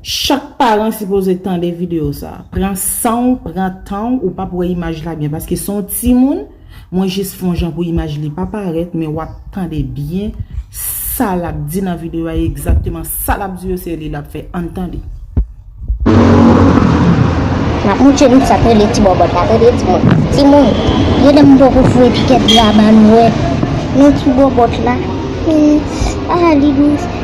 Chak paran sipoze tande video sa. Pran sanw pran tanw ou pap wè imaj la byen paske son timoun mwen jis fon jan pou imaj li pa parèt men wap tande byen sa lap di nan video a egzakteman sa lap di yo se li lap fè ann tande. Map mouche nou sak rele ti bòbòt la tande timoun. Timoun gen lè m poko foure pikèt graba nou wè nan ti bòbòt la. Ahh li dous.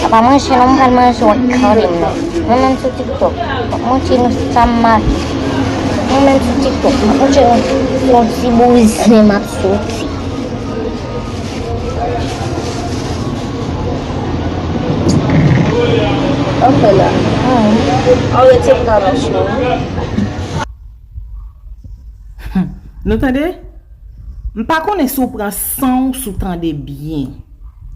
Sa pa manje non m pral manje wè Carline nan Mwen menm sou tiktok map montre nou sam make Mwen menm sou tiktok map montre nou yon ti bouzen map soti Ok la Aw rete pran nan chou Nou tande M pa konnen si w pran sanw si w tande byen.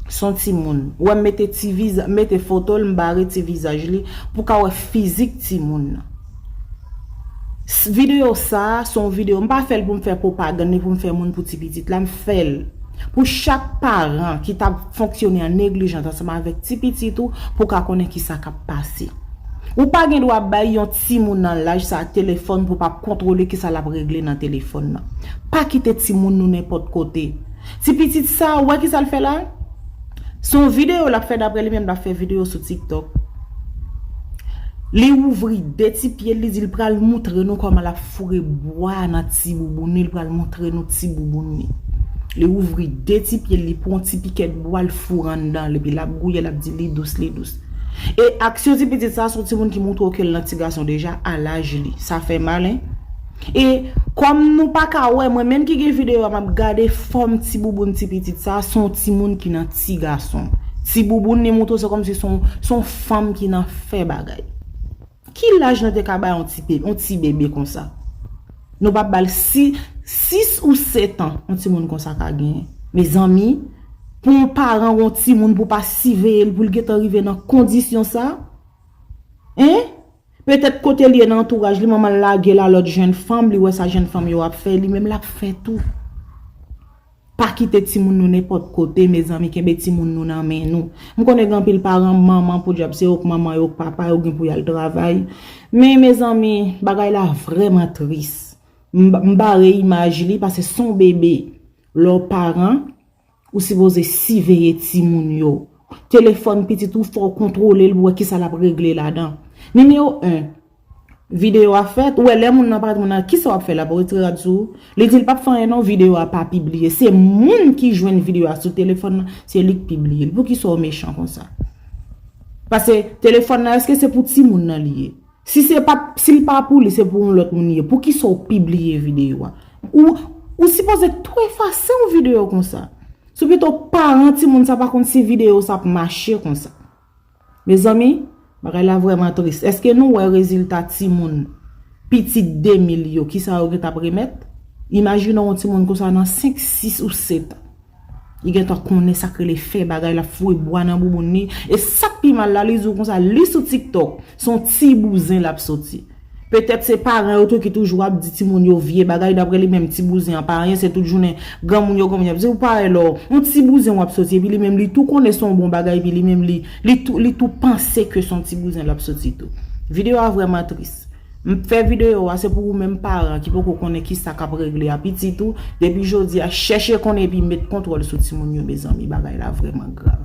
son timoun wèm mete ti vizaj mete fotol m bare ti vizaj li pou ka wè fizik timoun nan video sa son video m pa fèl poum fè popagann ni poum fè moun pou ti pitit la m fèl pou chak paran ki tap fonksyone an neglijant ansanm avèk ti pitit ou pou ka konnen kisa kap pase ou pa gen dwa bay yon timoun nan laj sa telefòn pou pap kontwole kisa lap regle nan telefòn nan pa kite timoun nou nenpòt kote. Ti pitit sa ou wè kisa l fè la? Se yon video lap fè daprè li menm lap fè video sou tiktok. Li ouvri 2 ti pye l li di l pral moutre nou kòman lap foure bwa nan ti bouboun li l pral moutre nou ti bouboun li. Li ouvri 2 ti pye l li pran yon ti pikèt bwa l foure anndan l epi lap gouye lap di li dous li dous. E aksyon ti pitit sa son timoun ki moutre w ke l nan ti gason deja a laj li. Sa fè mal hein. E kòm nou pa ka wè mwen menm ki gen video a map gade fòm ti bouboun ti pitit sa son ti moun ki nan ti gason. Ti bouboun li moutre se kòm si son fanm ki nan fè bagay. Ki laj nou te ka bay yon ti bebe konsa? Nou pa bal 6 ou 7 an yon ti moun konsa ka genyen. Mezanmi pou yon paran yon ti moun pou pa siveye l pou l gentan rive nan kondisyon sa? Hein? Petèt kote l ye nan antouraj li manman l lage l a lòt jenn fanm, li wè sa jenn fanm yo ap fè, li menm l ap fè tou. Pa kite timoun nou nenpòt kote mezanmi kenbe timoun nou nan men nou. M konnen gen anpil paran manman podyab se yo k manman yo k papa yo gen pou y al travay. Men mezanmi bagay la vrèman tris. M bare imaj li pase son bebe lè w paran. Ou sipoze siveye timoun yo. Telefòn pitit ou fò w kontwole l pou wè kisa l ap regle ladan. Nimewo 1, Videyo a fèt, ou wè lè moun nan parèt moun nan, kisa w ap fè la pou w retire rad sou ou? Li di l p ap fè anyen non, videyo a pa pibliye. Se moun ki jwenn videyo a sou telefòn nan, se li k pibliye l. Poukisa w mechan konsa? Pase telefòn nan èske se pou timoun nan li ye? Si se pat, si l pa pou li se pou yon lòt moun li ye, poukisa w pibliye videyo a? Ou, ou sipoze tou efase yon videyo konsa. Se pito paran timoun sa pa konn si videyo sa ap mache konsa. Mezanmi, bagay la vrèman tris. Eske nou wè rezilta timoun pitit Demil yo, kisa yo gen t ap remèt? Imajine w yon timoun konsa nan 5, 6 ou 7 an. Li gentan konnen sak rele fè bagay lap foure bwa nan bouboun li e sak pi mal la li di w konsa li sou tiktok se yon ti bouzen lap soti petèt se paran yo tou ki toujou ap di timoun yo vye bagay daprè li menm ti bouzen an pa anyen se tout jounen granmoun yo granmoun yo ap di w parèy lò yon ti bouzen wap soti epi li menm li tou konnen se yon bon bagay epi li menm li li tou panse ke se yon ti bouzen lap soti tou. Video a vrèman tris. M fè videyo a se pou ou menm paran ki poko konnen kisa kap regle a pitit ou, depi jodi a chèche konnen epi met kontwòl sou timoun yo mezanmi bagay la vrèman grav.